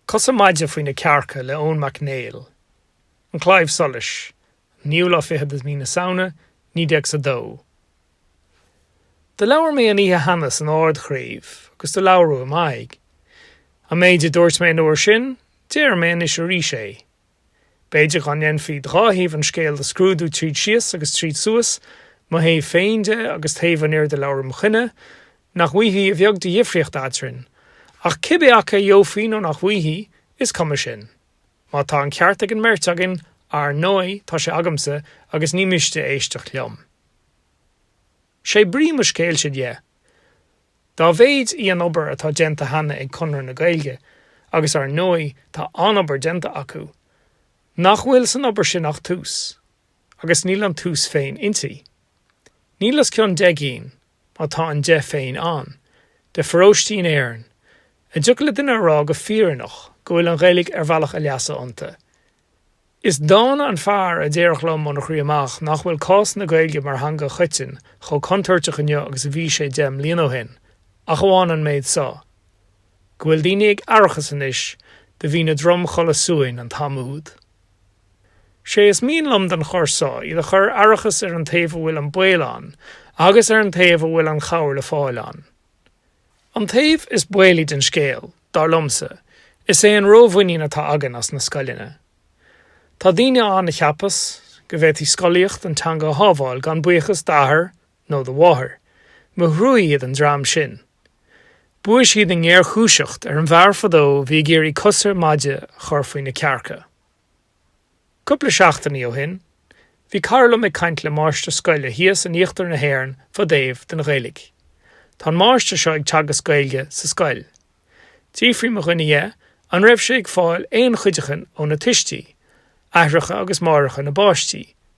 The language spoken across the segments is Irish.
Cosa Maide faoi na Cearca le Eoin Mac Néill, An Claidheamh Soluis 9ú lá fichead de mhí na Samhna 19 a dó. Do labhair mé an oíche cheana san Ard-Chraobh agus do labhradh i m'aghaidh. An méid a dúirt mé an uair sin, déarfaidh mé anois arís é. B'fhéidir dá ndéanfaí dhá thaobh an scéil do scrúdú tríd síos agus tríd suas, mo thaobh féin de agus taobh an fhir do labhair im choinne, nach bhfaighfí a bheag de dhifríocht eadrainn. Ach cibé acu a gheofaí nó nach bhfaighfí, is cuma sin. Má tá an ceart ag an mbeirt againn, ar ndóigh, tá sé agamsa agus ní miste éisteacht liom. Sé brí mo scéilse dhe, dá mhéid í an obair atá déanta cheana ag Conradh na Gaeilge, agus ar ndóigh tá an-obair déanta acu, nach bhfuil san obair sin ach tús, agus níl an tús féin inti. Níl os cionn deich gcinn, má tá an deich féin ann, de pharóistí in Éirinn a dtiocfadh le duine a rá go fírinneach go bhfuil an Ghaeilge ar bhealach a leasa iontu. Is dána an fear a déarfadh liom óna chroí amach nach bhfuil cás na Gaeilge mar theanga choiteann chomh contúirteach inniu agus a bhí sé deich mbliana ó shin, ach amháin an méid so, go bhfuil daoine ag aireachas anois do bhí ina dtromchodladh suain an t-am úd. 'Sé is mian liom don chor so iad a chur ar aireachas ar an taobh a bhfuil an baol ann agus ar an taobh a bhfuil an chabhair le fáil ann. An taobh is baolaí den scéal, dar liomsa, is é an rómhuinín atá againn as na scoileanna. Tá daoine ann a cheapas go bhféadfaidh scolaíocht an teanga a shábháil gan buíochas d'athair nó do mháthair, mo thrua iad an dream sin. Bhuaigh siad i ngéarchúiseacht ar an bhfear fadó a bhí ag iarraidh cosa maide a chur faoi na cearca. Cúpla seachtainí ó shin, bhí cara liom ag caint le máistir scoile thíos in íochtar na hÉireann fá dtaobh den Ghaeilge. Tá an máistir seo ag teagasc Gaeilge sa scoil. D'fhiafraigh mo dhuine dhe an raibh sé ag fáil aon chuideachain óna tuistí, aithreacha agus máithreacha na bpáistí.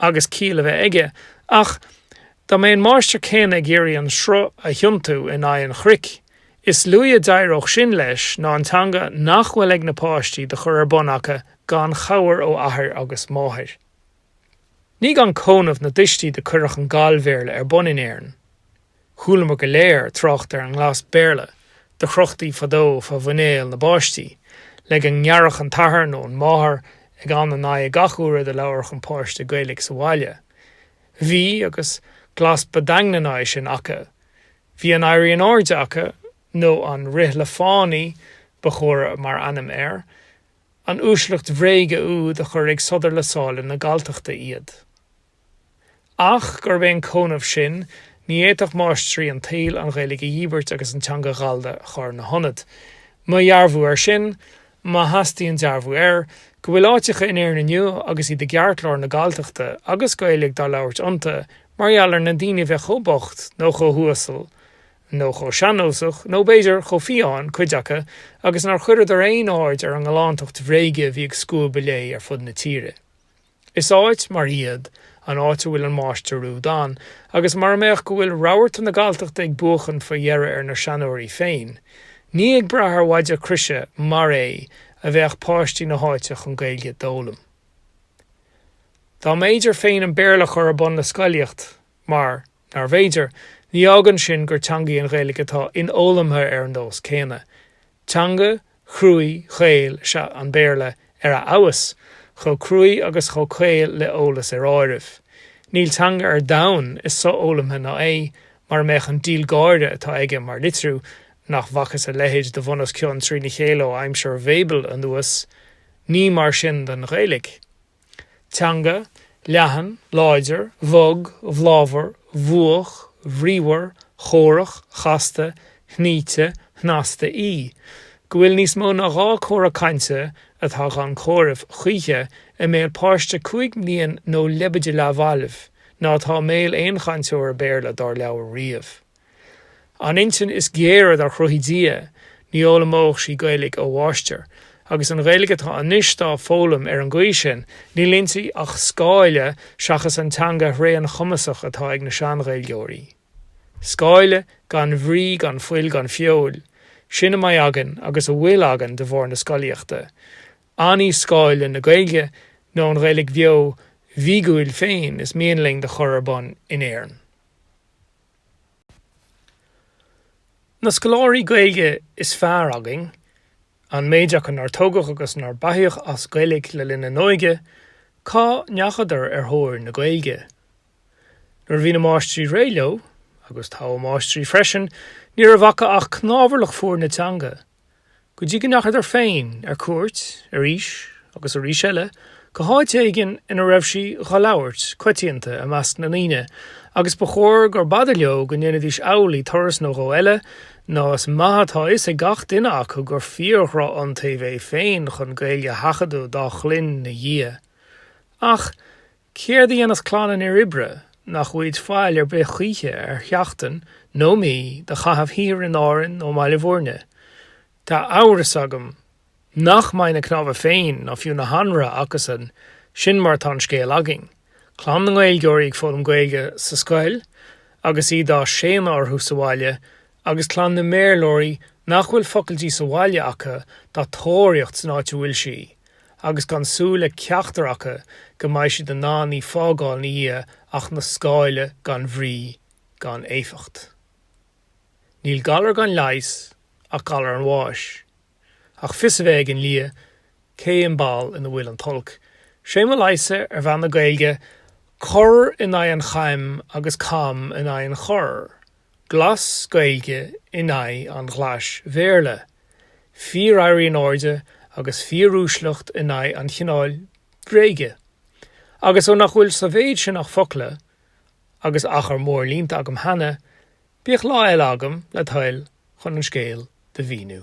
agus ciall a bheith aige, ach dá mbeadh an máistir céanna ag iarraidh an sruth a thiontú in aghaidh an chnoic, is luaithe a d'éireodh sin leis ná an teanga nach bhfuil ag na páistí do chur ar bun acu gan chabhair ó athair agus máthair. Ní gan cónamh na dtuistí do cuireadh an Gall-Bhéarla ar bun in Éirinn. Chualamar go léir trácht ar an nGlas Béarla do chrochtaí fadó fa mhuinéal na bpáistí, le go ngearrfadh an t-athair nó an máthair eag ann in aghaidh gach uaire do labharfadh an páiste Gaeilic sa bhaile. Bhí, agus, glas ba daingne ná é sin aca. Bhí an éirí in áirde aca, nó an rith le fánaí ba chóra mar ainm air, an uaisleacht bhréige úd a chuir ag sodar le sála na Galltachta iad. ach gurb é an congnamh sin, Ní fhéadfadh máistrí an tsaoil an Ghaeilge a dhíbirt agus an teanga ghallda a chur ina hionad. Mo dhearbhú air sin, má theastaíonn dearbhú air, go bhfuil áiteacha in Éirinn inniu agus iad i gceartlár na Galltachta agus Gaeilge dá labhairt iontu mar gheall ar na daoine bheith chomh bocht nó chomh huasal nó chomh sean-nósach nó, b'fhéidir, chomh fiáin, cuid acu, agus nár chuireadar aon aird ar an ngalántacht bhréige a bhí ag scuabadh léi ar fud na tíre. Is áit mar iad an áit a bhfuil an máistir úd ann, agus mara mbeadh go bhfuil rabharta na Galltachta ag buachan faoi dheireadh ar na seanóirí féin, ní ag brath ar mhaide croise mar é a bheadh páistí na háite chun Gaeilge d'fhoghlaim. Dá mb'fhéidir féin an Béarla a chur ar bun le scolaíocht mar. nárbh fhéidir. Ní fhágann sin gur teanga í an Ghaeilge atá infhoghlamtha ar an nós céanna. Teanga chruaidh chaol is ea an Béarla ar a fheabhas, chomh cruaidh agus chomh caol le heolas ar áireamh. Níl teanga ar domhan is so-fhoghlamtha ná é, mara mbeadh an díol gáire atá aige mar litriú, nach bhfacthas a leithéid de bhun os cionn trína chéile ó aimsir Bhabel anuas, ní mar sin don Ghaeilge. Teanga, leathan, láidir, bhog, bhláthmhar, bhuach, bhríomhar, chórach, chasta, shnoíte, shnasta í. Go bhfuil níos mó ná dhá cora cainte, atá gan comhaireamh choíche, i mbéal páiste cúig mblian nó leibide leathbhailbh, ná atá i mbéal aon chainteora Béarla dár labhair riamh. An intinn is géire dár chruthaigh Dia, ní fhoghlaimeodh sí Gaeilig ó mháistir. Agus an Ghaeilig atá anois dá foghlaim ar an gcaoi sin, níl inti ach scáile seachas an teanga thréan chumasach atá ag na sean-Ghaeilgeoirí. Scáile gan bhrí, gan fuil, gan feoil. Sin a mbeidh againn agus a bhfuil againn de bharr na scolaíochta. An í scáile na Gaeilge nó an Ghaeilig bheo bhíogúil féin is mian linn do chur ar bun in Éirinn? Na scoláirí Gaeilge is fearr againn, an méid acu nár tógadh agus nár beathaíodh as Gaeilge le linn a n-óige, cá ndeachadar ar thóir na Gaeilge? Nuair a bhí na máistrí réidh leo, agus togha máistrí freisin, ní raibh acu ach cnámharlach fuar na teanga. go dtí go ndeachadar féin ar cuairt arís agus arís eile go háit éigin ina raibh sí dhá labhairt coitianta i measc na ndaoine agus ba chóir gur b'fhada leo go ndéanfaidís amhlaidh turas nó dhó eile nó is maith atá fhios ag gach duine acu gur fíor-dhrochiontaoibh é féin chun Gaeilge a sheachadadh dá chloinn 'na dhiaidh. Ach Céard a dhéanas clann an fhir oibre nach bhfaighid faill ar bith choíche ar sheachtain nó mí do chaitheamh thiar in Árainn nó i mBaile Mhúirne? Tá amhras agam nach mbeidh na cnámha féin ná fiú na hanraithe acusan, sin mar atá an scéal againn. Clann na nGaeilgeoirí ag foghlaim Gaeilge sa scoil agus í dá séanadh orthu sa bhaile agus clann na mBéarlóirí nach bhfuil focal di sa bhaile acu dá tóraíocht san áit a bhfuil sí, agus gan súil le ceachtar acu go mbeidh siad in ann í fágáil ina dhiaidh ach 'na scáile gan bhrí gan éifeacht. Níl galar gan leigheas ach galar an bháis. ach fios a bheith ag an lia cén ball ina bhfuil an t-olc. Sé mo leigheas ar mheath na Gaeilge, cor in aghaidh an chaim agus cam in aghaidh an choir, glas Gaeilge in aghaidh an ghlais Bhéarla, fíor-éirí in airde agus fíor-uaisleacht in aghaidh an chineáil bhréige. Agus ó nach bhfuil sa mhéid sin ach focla agus achar mór líonta agam cheana, Bíodh lá eile agam, le toil, chun an scéal do mhíniú.